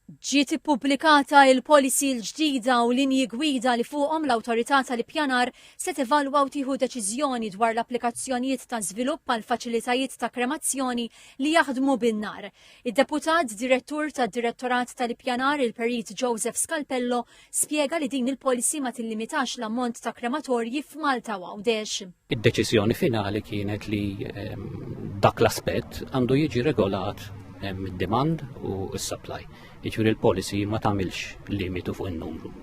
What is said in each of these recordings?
Ġiet ippubblikata l-policy l-ġdida u linji gwida li fuqhom l-Awtorità tal-Ippjanar se tevalwa u tieħu deċiżjoni dwar l-applikazzjonijiet ta' żvilupp għal faċilitajiet ta' kremazzjoni li jaħdmu bin-nar. Id-Deputat Direttur tad-Direttorat tal-Ippjanar, il-Perit Joseph Scalpello, spjega li din il-policy ma tillimitax l-ammont ta' krematorji f'Malta u Għawdex. Id-deċiżjoni finali kienet li ehm, dak l-aspett għandu jiġi regolat ehm, id-demand u s-supply. Jiġifieri l-policy ma tagħmilx limitu fuq in-numru.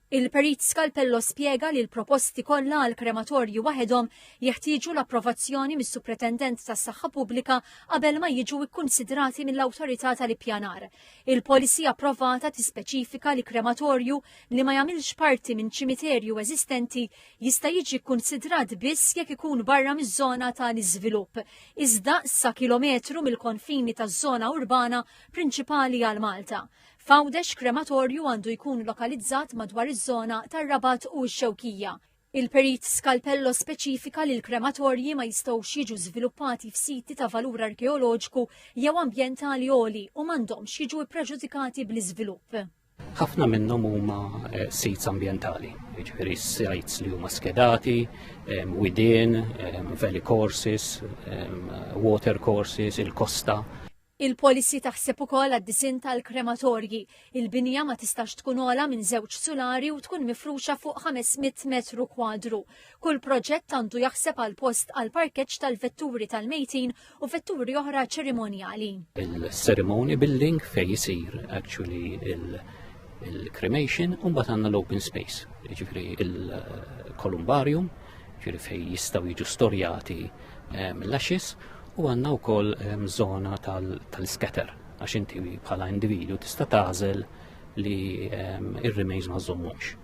Il-Perit Skalpello spjega li l-proposti kollha għal krematorji waħedhom jeħtieġu l-approvazzjoni mis-Supretendent tas-Saħħa Pubblika qabel ma jiġu kkunsidrati mill-Awtorità tal-Ippjanar. Il-policy approvata tispeċifika li krematorju li ma jagħmilx parti minn ċimiterju eżistenti jista' jiġi kkunsidrat biss jekk ikun barra miż-żona ta' l-iżvilupp, iżda sa kilometru mill-konfini taż-żona urbana prinċipali għal Malta. F'Għawdex krematorju għandu jkun lokalizzat madwar iż-żona tar-Rabat u x-Xewkija. Il-Perit Scalpello speċifika li l-krematorji ma jistgħux jiġu żviluppati f'siti ta' valur arkeoloġiku jew ambjentali għoli u m'għandhomx jiġu ppreġudikati bl-iżvilupp. Ħafna minnhom huma eh, sits ambjentali, jiġifieri sites li huma skedati, eh, widien, eh, valley courses, water courses, il-kosta. Il-policy taħseb ukoll għad-disinn tal-krematorji. Il-binja ma tistax tkun ogħla minn żewġ sulari u tkun mifruxa fuq 500 metru kwadru. Kull proġett għandu jaħseb għal post għal parkeġġ tal-vetturi tal-mejtin u vetturi oħra ċerimonjali. il-ceremony building fej jisir actually il-cremation, un bat għanna l-open space, ġifri il-kolumbarium, ġiri fej jistaw jiġu storjati ehm, l-axis u għanna u koll ehm, zona tal-scatter għax inti bħala individu tista' tażel li ehm, ir-remains ma żommux.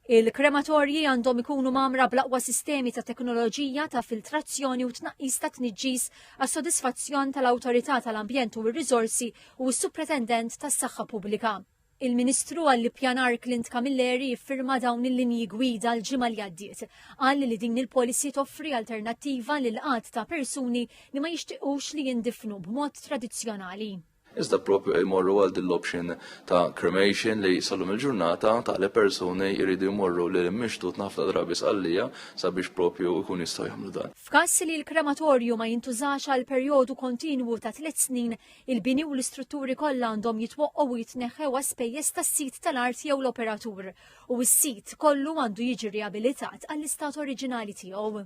Il-krematorji għandhom ikunu mamra blaqwa sistemi ta' teknoloġija ta' filtrazzjoni u tnaqqis ta' tniġġis għas sodisfazzjon tal-Awtorità tal-Ambjent u r-Riżorsi u s-Supretendent tas-Saħħa Pubblika. Il-Ministru għall-Ippjanar Clint Camilleri ffirma dawn il-linji gwida l-ġimgħa li għaddiet. Qal li din il-policy toffri alternattiva lil għadd ta' persuni li ma jixtiequx li jindifnu b'mod tradizzjonali. Iżda propju jmorru għal din l-option ta' cremation li sallum il-ġurnata ta' li persuni jridu jmorru lil imixtut ħafna drabi sqallija sabiex propju jkun jistgħu jagħmlu dan. F'każ li l-krematorju ma jintużax għal perjodu kontinwu ta' tliet snin, Il-bini u l-istrutturi kollha għandhom jitwaqqgħu u jitneħħew għas spejjeż tas-sid tal-art jew l-operatur, u s-sit kollu għandu jiġi riabilitat għall-istat oriġinali tiegħu.